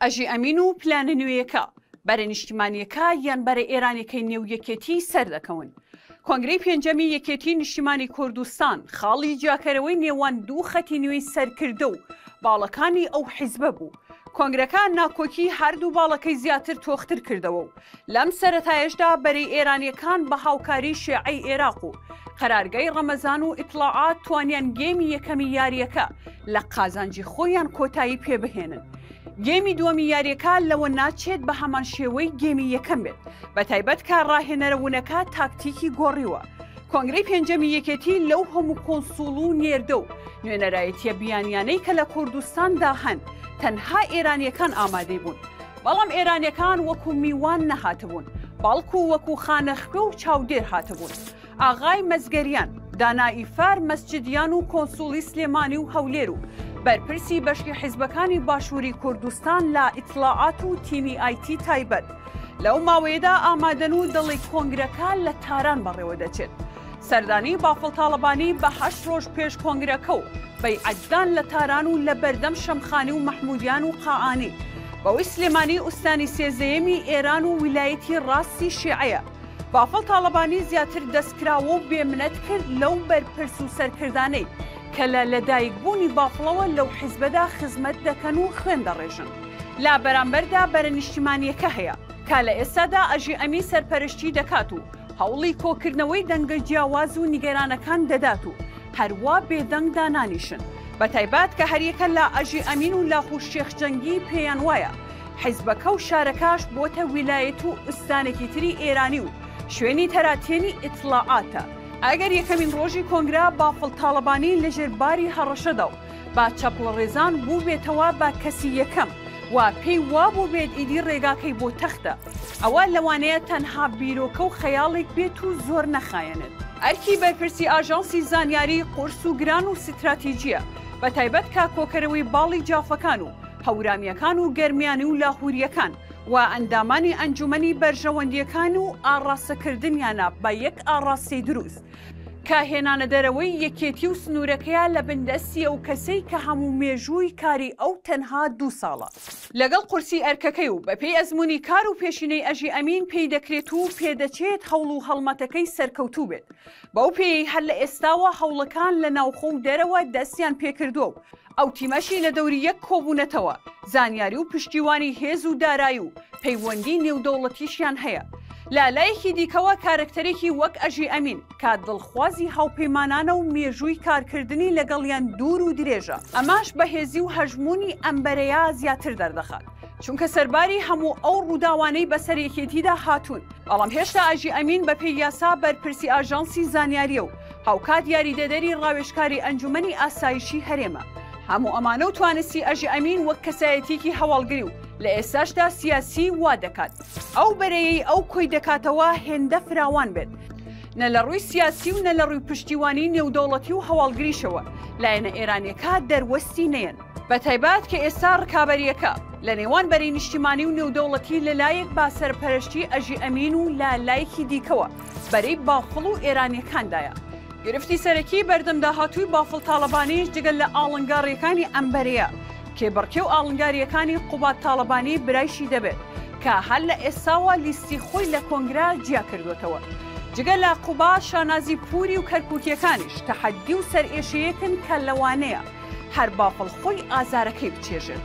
ئەژی ئەمین و پلانە نوێیەکە بەرە نیشتیمانیەکە یان بەرە ئێرانەکەی نێو یەکێتی سەردەکەون. کۆنگری پێنجەمی یەکێتی نیشتیمانی کوردستان خاڵی جیاکەرەوەی نێوان دوو خەتی نوێی سەرکردە و باڵەکانی ئەو حیزبە بوو. کۆنگرەکە ناکۆکی هەردوو باڵەکەی زیاتر تۆختر کردەوە و لەم سەرەتایەشدا بەرەی ئێرانییەکان بە هاوکاریی شێعەی ئێراق و قەرارگای ڕەمەزان و ئیتڵاعات توانیان گێمی یەکەمی یارییەکە لە قازانجی خۆیان کۆتایی پێ بهێنن. گێمی دووەمی یارییەکە لەوە ناچێت بە هەمان شێوەی گێمی یەکەم بێت، بەتایبەت کە ڕاهێنەرە ونەکە تاکتیکی گۆڕیوە. کۆنگرەی پێنجەمی یەکێتی لەو هەموو کۆنسوڵ و نێردە و نوێنەرایەتییە بیانیانەی کە لە کوردستاندا هەن، تەنها ئێرانییەکان ئامادەی بوون. بەڵام ئێرانیەکان وەکو میوان نەهاتبوون بەڵکو وەکو خانەخوێ و چاودێر هاتبوون ئاغای مەزگەریان دانائی فار مەسجدیان و کۆنسوڵی سلێمانی و هەولێر و بەرپرسی بەشی حیزبەکانی باشووری کوردستان لە ئیتلاعات و تیمی ئایتی تایبەت لەو ماوەیەدا ئامادەن و دەڵی کۆنگرەکە لە تاران بەڕێوە دەچێت سەردانی بافڵ تاڵەبانی بە هەشت ڕۆژ پێش کۆنگرەکە و بەیعەتدان لە تاران و لە بەردەم شەمخانی و مەحمودیان و قائانی بەوەی سلێمانی ئوستانی سێزەیەمی ئێران و ویلایەتی ڕاستی شێعەیە بافڵ تاڵەبانی زیاتر دەستکراوە و بێمنەت کرد لەو بەرپرس و سەرکردانەی کە لە لەدایکبوونی بافڵەوە لەو حیزبەدا خزمەت دەکەن و خوێن دەڕێژن لە بەرامبەردا بەرە نیشتیمانیەکە هەیە کە لە ئێستادا ئەژی ئەمی سەرپەرشتی دەکات و هەوڵی کۆکردنەوەی دەنگە جیاواز و نیگەرانەکان دەدات و هەروا بێدەنگ دانانیشن، بەتایبەت کە هەریەکە لە ئەژی ئەمین و لاهور شێخ جەنگی پێیان وایە حیزبەکە و شارەکەش بۆتە ویلایەت و ئوستانێکی تری ئێرانی و شوێنی تەراتێنی ئیتڵاعاتە. ئەگەر یەکەمین ڕۆژی کۆنگرە بافڵ تاڵەبانی لەژێر باری هەڕەشەدا و بە چەپڵەڕێزان بووبێتەوە بە کەسی یەکەم و پێی وابووبێت ئیدی ڕێگاکەی بۆ تەختە، ئەوە لەوانەیە تەنها بیرۆکە و خەیاڵێک بێت و زۆر نەخایەنێت. ئەرکی بەرپرسی ئاژانسی زانیاری قورس و گران و ستراتیجییە، بە تایبەت کە کۆکەرەوەی باڵی جافەکان و هەورامییەکان و گەرمیانی و لاهورییەکان و ئەندامانی ئەنجومەنی بەرژەوەندییەکان و ئاڕاستەکردنیانە بە یەک ئاڕاستەی دروست کە هێنانەدەرەوەی یەکێتی و سنوورەکەیە لە بندەستی ئەو کەسەی کە هەموو مێژووی کاری ئەو تەنها دوو ساڵە. لەگەڵ قورسی ئەرکەکەی و بەپێی ئەزموونی کار و پێشینەی ئەژی ئەمین پێی دەکرێت و پێدەچێت هەوڵ و هەڵمەتەکەی سەرکەوتوو بێت، بەو پێیەی هەر لە ئێستاوە هەوڵەکان لە ناوخۆ و دەرەوە دەستیان پێکردووە و ئەو تیمەشی لە دەوری یەک کۆبوونەتەوە، زانیاری و پشتیوانی هێز و دارایی و پەیوەندی نێودەوڵەتیشیان هەیە. لە لایەکی دیکەوە کارەکتەرێکی وەک ئەژی ئەمین، کە دڵخوازی هاوپەیمانانە و مێژووی کارکردنی لەگەڵیان دوور و درێژە، ئەماش بەهێزی و هەژموونی ئەم بەرەیە زیاتر دەردەخات، چونکە سەرباری هەموو ئەو ڕووداوانەی بەسەر یەکێتیدا هاتوون، بەڵام هێشتا ئاژی ئەمین بەپێی یاسا بەرپرسی ئاژانسی زانیارییە و هاوکات یاریدەدەری ڕاوێژکاری ئەنجومەنی ئاسایشی هەرێمە، هەموو ئەمانە و توانستی ئەژی ئەمین وەک کەسایەتییەکی هەواڵگری و لە ئێستاشدا سیاسی وا دەکات. ئەو بەرەیەی ئەو کۆی دەکاتەوە هێندە فراوان بێت نە لە ڕووی سیاسی و نە لە ڕووی پشتیوانی نێودەوڵەتی و هەواڵگریشەوە لایەنە ئێرانیەکە دەروەستی نەیەن، بە تایبەت کە ئێستا ڕکابەریەکە لە نێوان بەرەی نیشتیمانی و نێودەوڵەتی لە لایەک بە سەرپەرەشتی ئەژی ئەمین و لە لایەکی دیکەوە بەرەی بافڵ و ئێرانیەکاندایە. گرفتی سەرەکی بەردەم داهاتووی بافڵ تاڵەبانیش جگە لە ئاڵنگاڕییەکانی ئەم بەرەیە، کێبڕکێ و ئاڵنگارییەکانی قوباد تاڵەبانی برایشی دەبێت، کە هەر لە ئێستاوە لیستی خۆی لە کۆنگرە جیا کردووەتەوە. جگە لە قوباد، شانازی پووری و کەرکووکییەکانیش تەحەددی و سەرئێشەیەکن کە لەوانەیە هەر بافڵ خۆی ئازارەکەی بچێژێت.